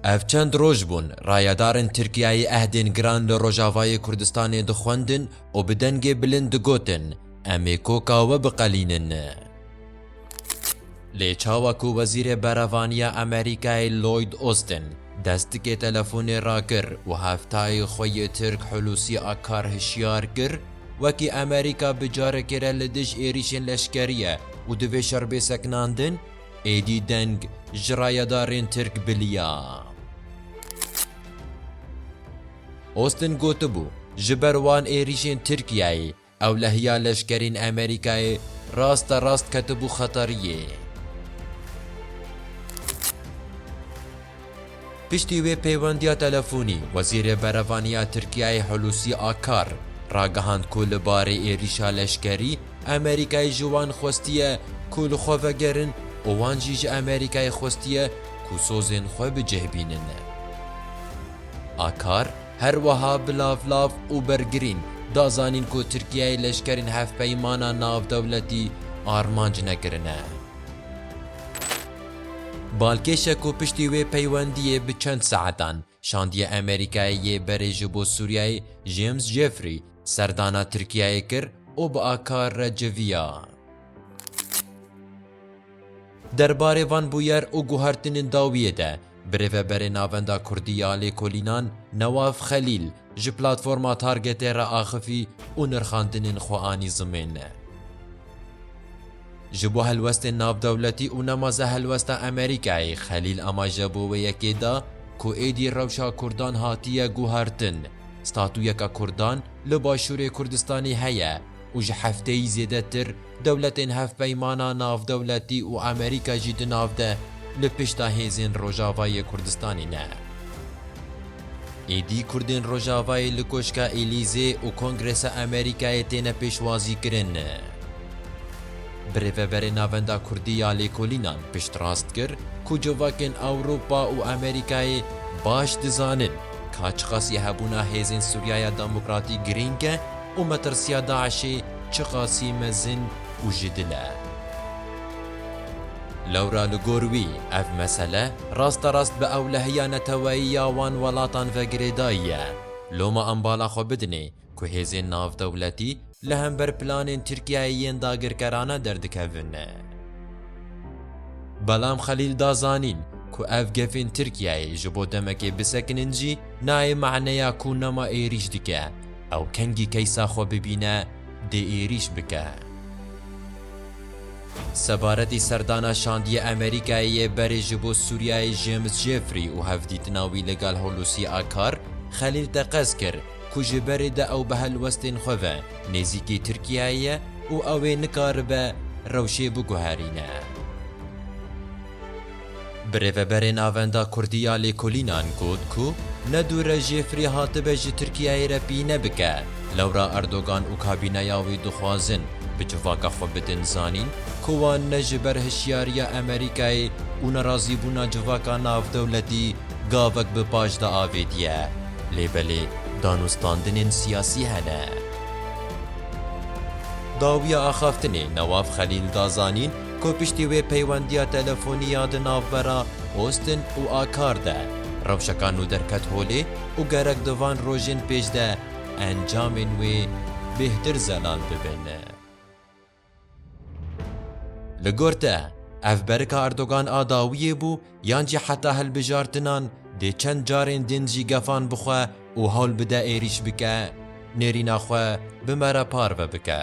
Ev çend roj bûn rayedarên Tirkiyeyê ehdên giran li Rojavayê Kurdistanê dixwendin û bi dengê bilind digotin, Em ê koka we biqelînin. Lê çawa ku Wezîrê Berevaniya Amerîkayê Lloyd Austin dest tikê telefonê rakir û heftayê xwe yê Tirk Hulusi Akar hişyar kir, Wekî Amerîka bi carekê re li dij êrîşên leşkerî ye û divê şer bê sekinandin, Êdî deng ji rayedarên Tirk biliya. Austin gotibû, ji ber wan êrîşên Tirkiyeyê ewlehiya leşkerên Amerîkayê raste rast ketibû xeteriyê. Piştî wê pêwendiya telefonî, Wezîrê Berevanî ya Tirkiyeyê Hulûsî Akar, ragihand ku li barê êrîşa leşkerî, Amerîkayê ji wan xwestiye ku li xwe vegerin û wan jî ji Amerîkayê xwestiye ku sozên xwe bi cih bînin. Akar, her wiha bi lavlav û bergirîn, da zanîn ku Tirkiyeyê leşkerên hevpeymana navdewletî armanc nekirine. Balkêşe ku piştî wê peywendiyê bi çend saetan şandiya Amerîkayê yê berê ji bo Sûriyeyê James Jeffrey serdana Tirkiyeyê kir û bi a kar re civiya. Derbarê van bûyer û guhertinên dawiyê de, Birêveberê Navenda Kurdî ya Lêkolînan Newaf Xelîl ji Platforma Targetê re axifî û nirxandinên xwe anî zimêne. Ji bo helwestên navdewletî û nema ze helwesta Amerîkayê Xelîl amaje bo wê yekê da ku êdî rewşa Kurdan hatiye guhertin, statuyeka Kurdan li Başûrê Kurdistanê heye û ji hefteyî zêdetir Dewletên Hevpeymana Navdewletî û Amerîka jî di nav de li pişta hêzên Rojava yê Kurdistanê ne. Êdî Kurdên Rojavayê li Koşka Elîzê û Kongresa Amerîkayê têne pêşwazîkirin. Birêveberê Navenda Kurdî ya Lêkolînan piştrast kir ku civakên Ewropa û Amerîkayê baş dizanin ka çiqasî hebûna hêzên Sûriyaya Demokratîk girîng e, û metirsiya DAIŞ'ê çiqasî mezin û ji dil e. Lewra li gor wî ev mesele rasterast bi ewlehiya neteweyî ya wan welatan ve girêdayî ye. Loma em bala xwe bidinê ku hêzên navdewletî li hember planên Tirkiyeyê yên dagirkerane derdikevin. Belam Xelîl da zanîn ku ev gefên Tirkiyeyê ji bo demekê bisekinin jî nayê maneya ku nema êrîş dike, Ew kengî keysa xwe bibîne dê êrîş bike. Sebaretî serdana şandiyê Amerîkayê yê berê ji bo Sûriyeyê James Jeffrey û hevdîtina wî li gel Hulusi Akar, Xelîl teqez kir ku ji berê de ew bi helwestên xwe ve nêzîkî Tirkiyeyê ye û ew ê nikaribe rewşê biguherîne. Birêveberê Navenda Kurdî ya Lêkolînan got ku ne dûr e Jêfrî hatibe ji Tirkiyeyê re pîne bike, lewra Erdogan û kabîneya wî dixwazin bi civaka xwe bidin zanîn ku wan ne ji ber hişyariya Amerîkayê û nerazîbûna civaka navdewletî gavek bi paş de avêtiye, lê belê danûstandinên siyasî hene. Dawiya axaftinê Newaf Xelîl da zanîn, ku piştî wê peywendiya telefonî ya di navbera Austin û Akar de rewşeka nû derket holê û gerek di van rojên pêş de encamên wê bêhtir zelal bibin. Li gor te, ev berika Erdogan a dawiyê bû yan jî heta hilbijartinan dê çend carên din jî gefan bixwe û hewl bide êrîş bike, nêrîna xwe bi me re parve bike?